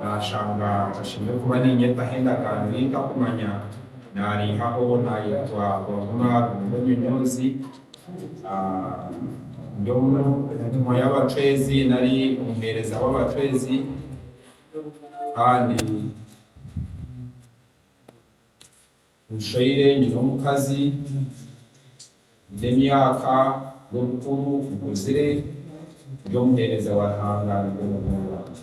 Naashanga ntashemereire kuba niinyetaho endagaano ei ntakumanya, naariihaho naayetwa Bavuma Ruhunga Onyonyoozi. Ndi omu ntumwa y'abacwezi nari omuheereza w'abacwezi kandi. Omushaija nyine omukazi nyine emyaka y'obukuru nkuzire ndi omuheereza wa Ruhanga arinda omuhoro gwangye.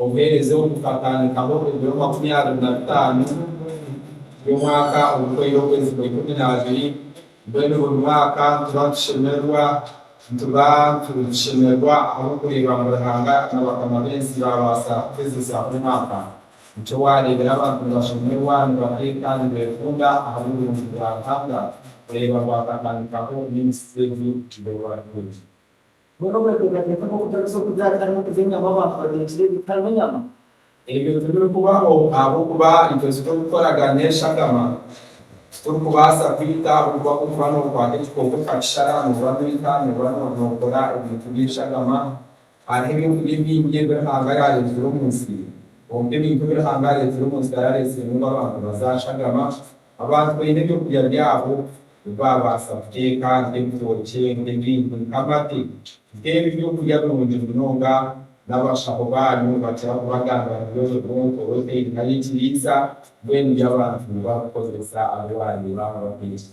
Obuheereza obu bukatandikaho ebiro makumi abiri na bitaano by'omwaka oguhoire okwezi kwa ikumi na abiri. Mbwenu buri mwaka nituba nitushemererwa. Nituba turi kushemererwa ahabw'okureeba ngu Ruhanga na bakama b'ensi baabaasa kuhezesa omwaka. Nikyo waareebera abantu nibashemererwa, nibateeka, nibeekunda ahabw'oburungi bwa Ruhanga. Oreeba ngu hakatandikaho n'emisisi egi, tubeho hati. Boona obeteekateeka nk'okutarya eky'okurya hatarimu okurya enyama abantu bateekire ebitarimu enyama. Ebyo tibirikubaho ahabw'okuba itwe titurikukoragania enshagama. Titurikubaasa kwita ahabw'okuba ku orikuba nookwata ekikooko okakishara nooba noita nooba nookora ebintu by'enshagama. Hariho ebintu bingi ebi Ruhanga yaareetire omu nsi. Kwonka ebintu ebi Ruhanga yaareetire omu nsi taraareetiremu ngu abantu bazaashagama. Abantu baine eby'okurya byabo ebi baabaasa kuteeka nk'ebitookye, nk'ebintu nk'amate, nk'ebyo by'okurya birungi munonga, n'abashaho baanyu nibakira kubagambira ngu ezo bronco rotaine nari ekiriisa mbwenu by'abantu barikukozesa abu waareeba ngu bateekye.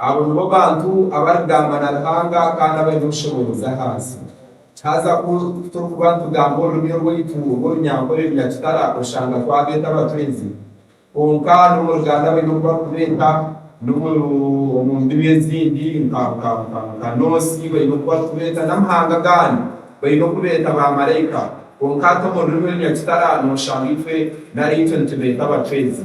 Abo nibo bantu abarigamba na Ruhanga kandi abaine obushoboorozi ahansi. Haza ku turikuba nitugamba orurimi orwaitu orw'Orunyankore Runyakitara oshanga twabeeta abatwezi. Kwonka n'omu Ruganda baine oku barikubeeta, n'omu omu ndimi ezindi nka nka nka nka Noosi baine oku barikubeeta, n'amahanga agandi baine oku beeta baamaraika. Kwonka hati omu rurimi Orunyakitara nooshanga itwe nari itwe nitubeeta abatwezi.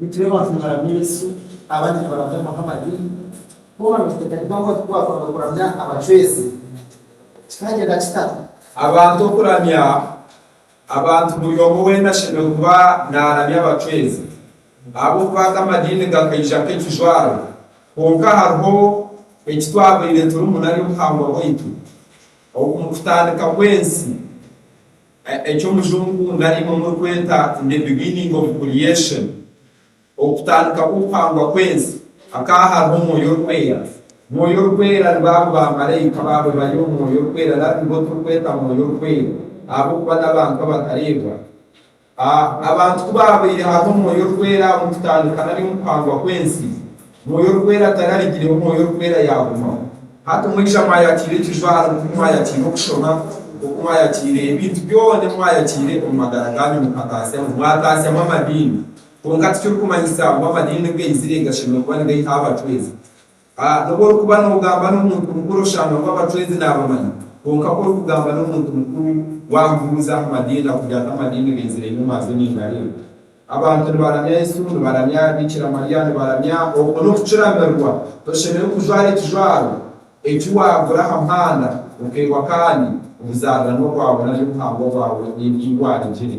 Nitureeba ngu nibaramya Yesu, abandi nibaramya Muhammad, boona nibateekateeka ngu hati ku baakwanga kuramya abacwezi, kikagyenda kita? Abantu okuramya abantu buri omwe weena ashemereire kuba naaramya abacwezi ahabw'okuba aga amadiini gakaija nk'ekijwaro. Kwonka hariho eki twabaire turimu nari obuhangwa bwaitu omu kutandika kw'ensi. Eki omujungu nari imwe murikweta in the beginning of creation, okutandika kw'okuhangwa kw'ensi, hakaba hariho Omwoyo Orikwera. Mwoyo Orikwera nibo abo baamaraika baarobayo Omwoyo Orikwera nari nibo turikweta Mwoyo Orikwera ahabw'okuba n'abantu abatareebwa. A Abantu ku baabaire hariho Omwoyo Orikwera omu kutandika nari omu kuhangwa kw'ensi, Mwoyo Orikwera atararugireho, Mwoyo Orikwera yaagumaho. Hati mwija mwayatiire ekijwaro, nk'oku mwayatiire okushoma, nk'oku mwayatiire ebintu byona ebi mwayatiire omu magara gaanyu mukataasyamu, mwataasyamu amadiini. Kwonka tikirikumanyisa ngu amadiini gaizire gashemereire kuba nigaihaho abacwezi. A N'obu orikuba noogamba n'omuntu mukuru oshanga ngu abacwezi naabamanya, kwonka ku orikugamba n'omuntu mukuru, waamubuuza aha madiini, akugire ati, Amadiini gaizire nyowe maazo ningareeba. Abantu nibaramya Yesu, nibaramya Bikira Mariya, nibaramya obumwe n'okukiramirwa. Toshemereire kujwara ekijwaro eki waagura aha muhanda okeegwa kandi obuzaariranwa bwawe nari obuhangwa bwawe n'ebi waaragire.